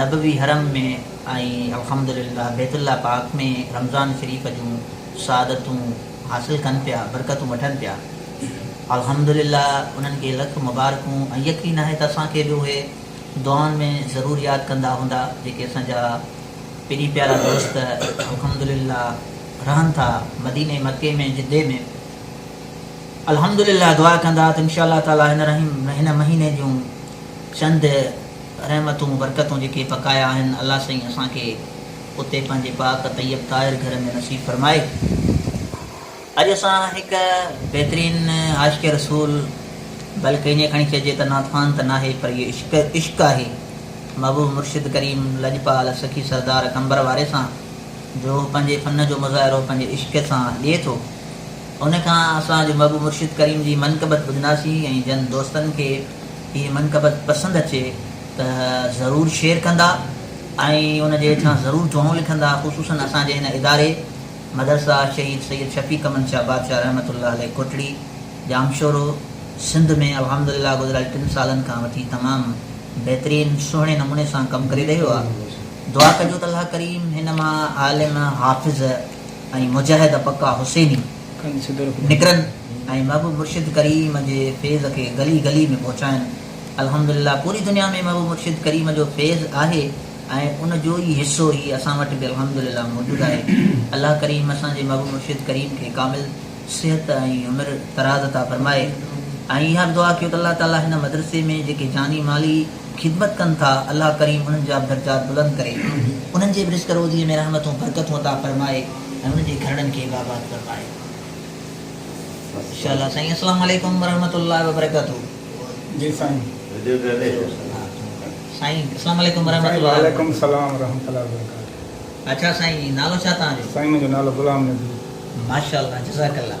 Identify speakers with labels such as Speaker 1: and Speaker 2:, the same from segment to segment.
Speaker 1: نبوي حرم ۾ ۽ الحمد لله بيت الله پاڪ ۾ رمضان شريف جون سعادتون حاصل ڪن پيا، برڪتون وٺن پيا. الحمد لله انهن کي لک مبارڪون ۽ يقين آهي ته اسان کي به اهي دعائن ۾ ضرور ياد ڪندا هوندا جيڪي اسان جا پرين پيارا دوست الحمد لله رهن ٿا مديني مڪي ۾ جدي ۾ الحمد لله دعا ڪندا ته انشاء الله تعالي هن رحيم هن مهيني جون چند رحمتون برڪتون جيڪي پڪايا آهن الله سائين اسان کي اتي پنهنجي پاڪ طيب طاهر گهر ۾ نصيب فرمائي اڄ اسان هڪ بهترين عاشق رسول بلڪه ائين کڻي چئجي ته نعت خوان ته ناهي پر اهو عشق عشق آهي محبوب مرشد ڪريم لڄپال سخي سردار قمبر واري سان جو هو پنهنجي فن جو مظاهرو پنهنجي عشق سان ڏئي ٿو ان کان اسان اڄ محبوب مرشد ڪريم جي منقبت ٻڌنداسين ۽ جن دوستن کي هي منقبت پسند اچي ته ضرور شيئر ڪندا ۽ ان جي هيٺان ضرور جهونو لکندا خصوصن اسان جي هن اداري مدرسه شهيد سيد شفيق امن شاهه بادشاهه رحمة الله عليه ڪوٽڙي ڄامشورو سنڌ ۾ الحمدلله گذريل ٽن سالن کان وٺي تمام بهترين سهڻي نموني سان ڪم ڪري رهيو آ دعا ڪجو ته الله ڪريم هن مان عالم حافظ ۽ مجاهد پڪا حسيني نڪرن ۽ محبوب مرشد ڪريم جي فيض کي گلي گلي ۾ پهچائن الحمدلله پوري دنيا ۾ محبوب مرشد ڪريم جو فيض آهي ۽ ان جو ئي حصو هي اسان وٽ به الحمدلله موجود آهي الله ڪريم اسان جي محبوب مرشد ڪريم کي ڪامل صحت ۽ عمر دراز عطا فرمائي ۽ اها به دعا ڪيو ته الله تعالي هن مدرسي ۾ جيڪي جاني مالي خدمت ڪن ٿا الله ڪريم انهن جا به درجات بلند ڪري انهن جي به رزق روزيء ۾ رحمتون برڪتون عطا فرمائي. ۽ ان جي گهرڙن کي به آباد فرمائي. انشاءالله سائين اسلام عليڪم ورحمة الله وبرڪاته جي سائين سائين اسلام عليڪم ورحمة الله وبرڪاته وعليڪم السلام
Speaker 2: ورحمة الله وبرڪاته اڇا سائين
Speaker 1: نالو ڇا توهان جو سائين منهنجو نالو غلام
Speaker 2: نبي ماشاءالله
Speaker 1: جزاڪ الله.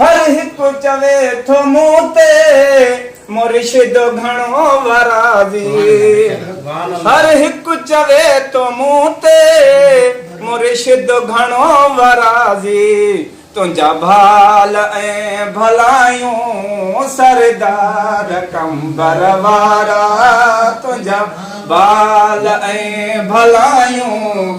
Speaker 2: هر هڪ چوي ٿو مون تي مرشد گهڻو وراضي هر هڪ چوي ٿو مون تي مرشد گهڻو وراضي تنهنجا ڀال ۽ ڀلايون سردار قمبر وارا تنهنجا ڀال ۽ ڀلايون